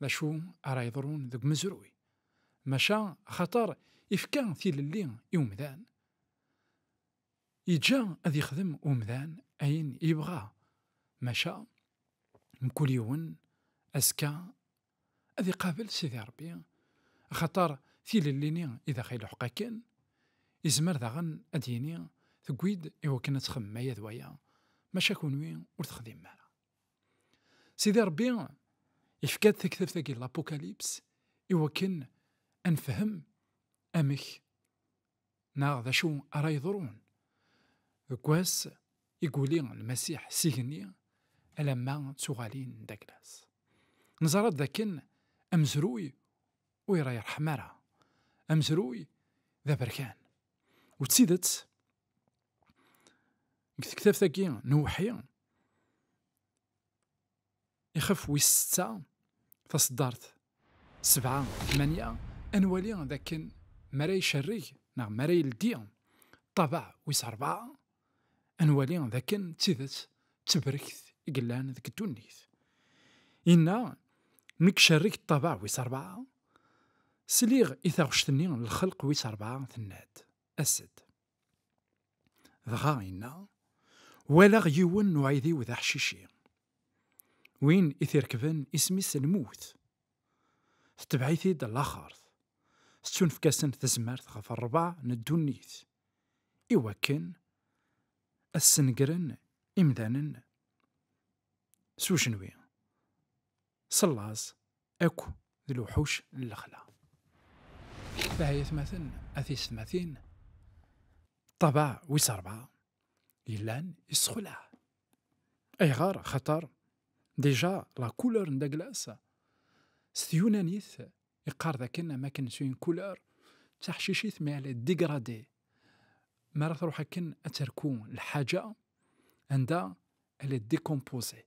D acu ara yeḍrun deg umezruy? Maca axaṭer ifka tilelli i umdan, yeǧǧa ad yexdem umdan ayen yebɣa, maca mkul yiwen azekka ad iqabel Sidi Ṛebbi, axaṭer tilelli-nni i d aɣ-iluḥeq akken, yezmer daɣen ad d-yini tewwi-d i wakken ad txemmem aya d waya, maca kunwi ur texdimem ara. Sidi Rebbi ifka-d taktabt-agi n Lapukalyps i wakken ad nefhem amek neɣ d acu ara yeḍrun deg wass i yuli Lmasiḥ s igenni alamma d tuɣalin n Daglas. Neẓra-d dakken amezruy ur irḥem ara, amezruy d aberkan. U d tidet, Deg tektabt-agi n uwḥi, ixef wis setta, taṣeddart sebɛa tmanya, ad nwali d akken mi ara icerreg neɣ mi ara yeldi ṭṭabaɛ wis rebɛa, ad nwali d akken d tidet d tebrekt i yellan deg ddunit. Yenna, mi icerreg ṭṭabaɛ wis rebɛa, sliɣ i taɣect-nni n lxelq wis rebɛa tenna-d, As-d. Dɣa inna, walaɣ yiwen n uɛidiw d aḥcici. Win i t-irekben isem-is lmut. Tetbeɛ-it-id laxert. Tettunefk-asen tezmert ɣef rrbeɛ n ddunit i wakken ad snegren imdanen s ujenwi. s llaẓ akk d lewḥuc n lexla. Bah ay atmaten, a tiysetmatin, ṭṭabaɛ wis rebɛa yellan yessexlaɛ. Ayɣer? Xaṭer déjà la couleur n Douglas s tyunanit yeqqar dakken am akken s une couleur d taḥcicit mais elle est dégradée. Mi ara truḥ akken ad terku lḥaǧa anda elle est décomposée.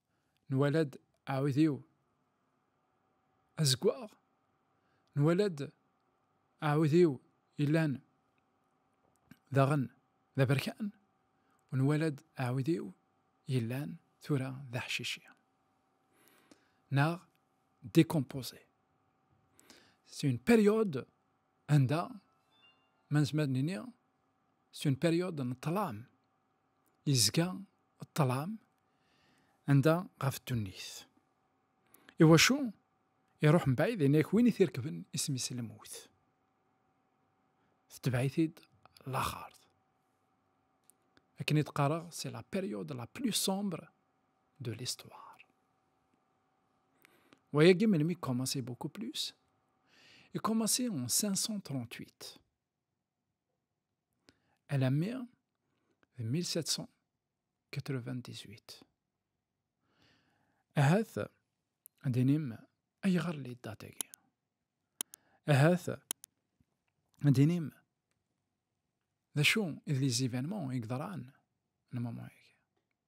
nwala-d aɛudiw azeggaɣ, nwala-d aɛudiw yellan daɣen d aberkan, u nwala-d aɛudiw yellan tura d aḥcici neɣ décomposé. C'est une période anda ma nezmer ad nini c'est une période n ṭṭlam. yezga ṭṭlam anda ɣef ddunit. Iwacu? Iruḥ mebɛid inek win i t-irekben isem-is lmut. Tetbeɛ-it-id laxert. Akken i d-qqareɣ, c'est la période la plus sombre de l'histoire. Wayagi melmi commencé beaucoup plus? I commencé en 538. Alammi d 1798. Ahat ad d-inim ayɣer li ddat-agi. Ahat ad d-inim d acu i d les événements i yeḍran n moment-agi.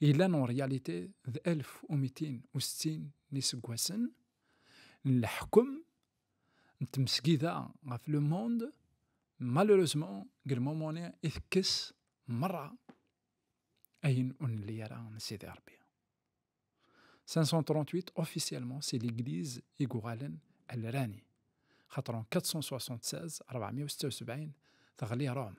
Yella n réalité d 1260 n yiseggasen n leḥkem n tmesgida ɣef le monde, malheureusement deg lmumuni i tekkes merra ayen ur nelli ara n Sidi Rebbi. 538 officiellement c'est l'église i yuɣalen alrani, xaṭer en 476 476 teɣli Rome.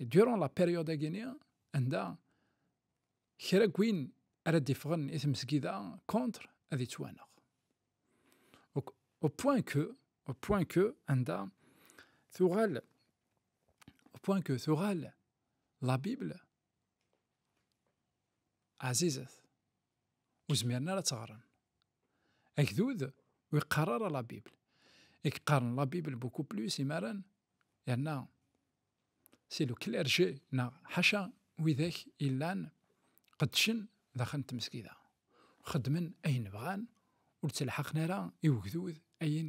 durant la période agini anda kra gwin ara d-iffɣen i tmesgida contre ad yettwaneɣ au point que au point que anda tuɣal au point que tuɣal la Bible azizet Ur zmiren ara ad teɣren. Agdud ur iqqar ara la Bible. I yeqqaren la Bible beaucoup plus imaren yerna si le clergé neɣ ḥaca widak illan qeddcen daxel n tmesgida. Xeddmen ayen bɣan ur ttelḥaqen ara i ugdud ayen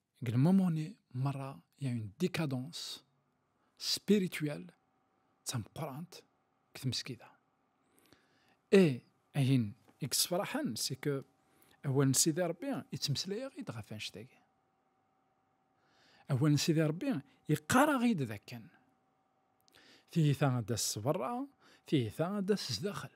deg lmumuni merra ya une décadence spirituelle d tameqqrant deg tmesgida et ayen i yessefraḥen c'est que awal n Sidi Rebbi yettmeslay-aɣ-id ɣef annect-agi awal n Sidi Rebbi yeqqar-aɣ-id d akken tiyita ad d-as sberra tiyita ad d-as sdaxel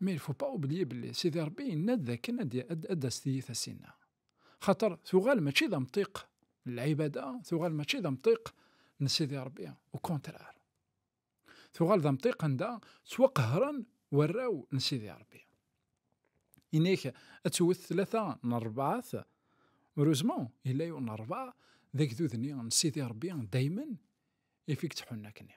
Mais il faut pas oublier belli Sidi Rebbi yenna-d dakken ad d-tas tiyita-s-inna. Xaṭer tuɣal mačči d amṭiq n lɛibada, tuɣal mačči d amṭiq n Sidi Rebbi, au contraire. Tuɣal d amṭiq anda ttwaqehren warraw n Sidi Rebbi. Inek ad twet tlata n rebɛat, heureusement yella yiwen n rebɛa d agdud-nni n Sidi Rebbi daymen ifik tḥunna-k-nni.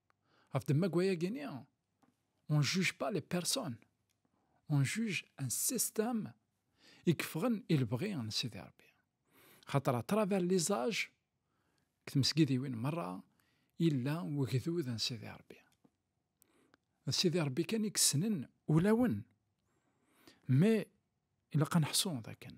Ɣef ddemma n wayagi-nni, on ne juge pas les personnes, on juge un système i yeffɣen i lebɣi n Sidi Rebbi. Xaṭer à travers les âges, deg tmesgidiwin merra, yella wegdud n Sidi Rebbi. D Sidi Rebbi kan i yessnen ulawen. Mais ilaq ad neḥsu dakken